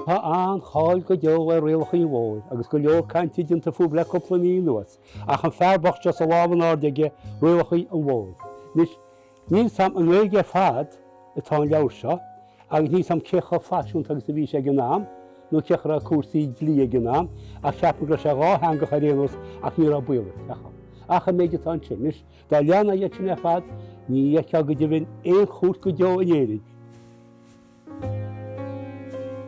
Tá an-cháil go deo ar Rialacha an Bhóthair agus go leor cainte déanta fúthu le cúpla mí anuas, ach an fear bocht seo is a lámh in airde aige Rialacha an Bhóthair. Anois, níl 's a'm i nGaeilge ar fad atá an leabhar seo, agus níl 's a'm cé chomh faisiúnta agus a bhí sé ag an am, nó cén chaoi a raibh cúrsaí dlí ag an am, ach cheapfá go raibh sé dhátheangach ar aon nós, ach ní raibh baol air. Ach an méid atá ansin, anois, dá leanfá iad sin ar fad, ní fheicfeá go deimhin aon chúirt go deo in Éirinn,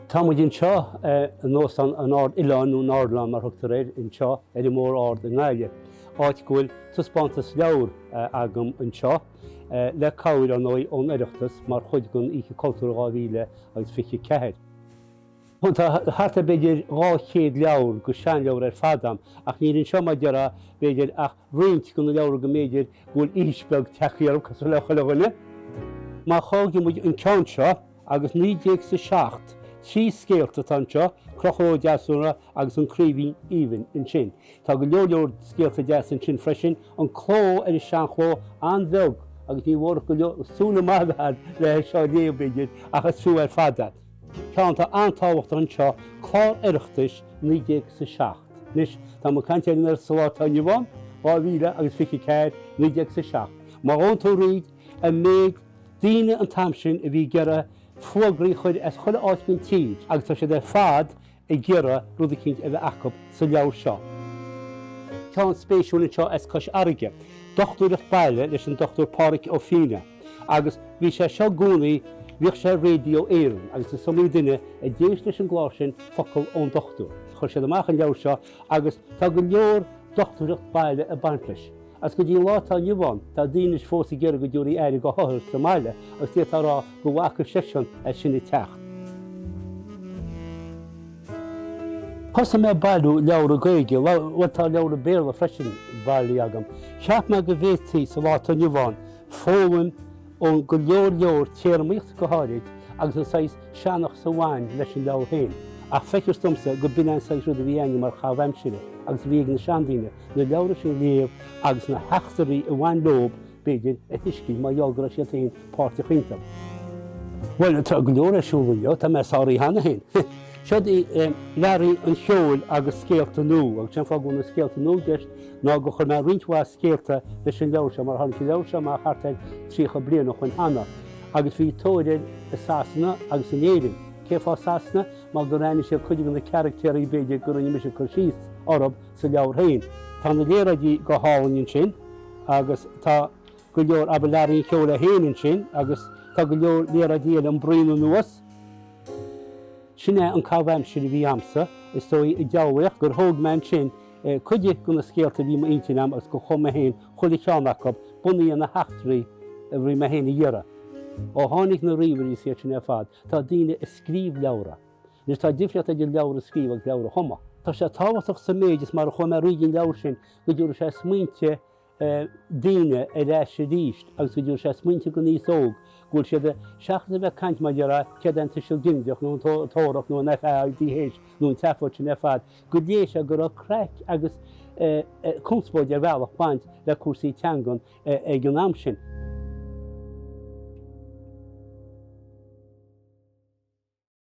Tá muid anseo in Óstán an Ard Oileáin, nó an Ardilaun mar thugtar air anseo, ar an mBóthar Ard i nGaillimh, áit go bhfuil taispeántas leabhar agam anseo, le cabhair, ar ndóigh, ón Oireachtas, mar chuid den Oíche Chultúir 2024. Tá thart ar b'fhéidir 200 leabhar de sheanleabhair ar fad agam, ach níl anseo, mar déarfá, b'fhéidir, ach roinnt de na leabhra go mb'fhéidir go bhfuil aois beag tagthaí orthu, cosúil le chuile dhuine. Má thógann muid an ceann seo agus naoi déag is a seacht, trí scéalta atá anseo, Conchúr Ó Deasúna agus An Craoibhín Aoibhinn ansin. Tá go leor leor scéalta deasa ansin freisin, an cló ar an seanchló an-bheag agus ní mór go leor, súil maith a bheith agat le hé seo a léamh, b'fhéidir, ach is fiú ar fad é. Ceann atá an-tábhachtach anseo, clár Oireachtais 19 sa 7. Anois, tá muid ag caint air sa lá atá inniu ann, 2000 agus 24 19 sa 7. Má ghabhann tú thríd an méid daoine an t-am sin a bhí ag iarraidh fuagraí a chur as chuile áit faoin tír, agus tá siad ar fad ag iarraidh rud eicínt a bheith acu sa leabhar seo. ceann spéisiúil anseo as Cois Fharraige, dochtúireacht baile leis an Dr. Páraic Ó Finneadha. Agus bhí sé seo i gcónaí, bhíodh sé ar Raidió Éireann agus is iomaí duine a d'éist leis an gclár sin, Focal ón Dochtúir. Chuir siad amach an leabhar seo agus tá go leor dochtúireacht baile ag baint leis. Agus go dtí an lá atá inniu ann, tá daoine anois fós ag iarraidh go dtabharfaí aire do othair sa mbaile agus d'fhéadfá a rá go bhfaca seisean é sin ag teacht. Thosaigh mé ag bailiú leabhra Gaeilge, bhuel, tá leabhra Béarla freisin bailithe agam. Cheap mé go bhféadfaí, sa lá atá inniu ann, foghlaim ón go leor leor téarmaíocht go háirid agus an saghas seanchas a bhain leis an leabhar féin. Ach feictear domsa gur b'in é an saghas rud a bhí againne mar chaitheamh aimsire agus a bhí ag na seandaoine, na leabhra sin a léamh agus na heachtraí a bhain leo, b'fhéidir, a thuiscint mar gheall go raibh siad féin páirteach iontu. Bhuel, tá go leor ar siúl inniu, tá mé sáraithe cheana féin. Siod í Learaí an Cheoil agus scéalta nua, agus sé an fáth go bhfuil na scéalta nua i gceist ná gur chuir mé roinnt mhaith scéalta leis an leabhar seo, mar tháinig an leabhar seo amach thart ar 30 bliain ó shoin cheana, agus bhí tóir air i Sasana agus in Éirinn. Cén fáth Sasana? Mar gur aithnigh siad cuid de na caractéirí, b'fhéidir, go rinne mise cur síos orthu, sa leabhar féin. Tá na léaráidí go hálainn ansin agus tá go leor abhallarí an cheoil é féin ansin agus tá go leor léaráidí eile an braon anuas. Sin é an caitheamh aimsire a bhí agamsa, is dóigh, i dteaghlaigheacht, gur thóg mé ansin cuid de na scéalta a bhí i m'intinn agam agus gur chum mé féin chuile cheann acu, bunaithe ar na heachtraí a bhí mé féin a iarraidh. Ó tháinig na ríomhairí, is iad sin ar fad, tá daoine ag scríobh leabhra. Anois, tá difríocht idir leabhar a scríobh agus leabhar a chumadh. Tá sé tábhachtach sa méid is mar a chum mé roinnt den leabhar sin go dtabharfaidh sé smaointe daoine ar ais arís agus go dtabharfaidh sé smaointe don aos óg go bhfuil siad, seachas a bheith ag caint mar dhea ar, céard é an Tuiseal Ginideach nó an Tabharthach nó an FAIDH nó an tseafóid sin ar fad, go léifidh sé go raibh craic agus conspóid ar bhealach ag baint le cúrsaí teangan ag an am sin.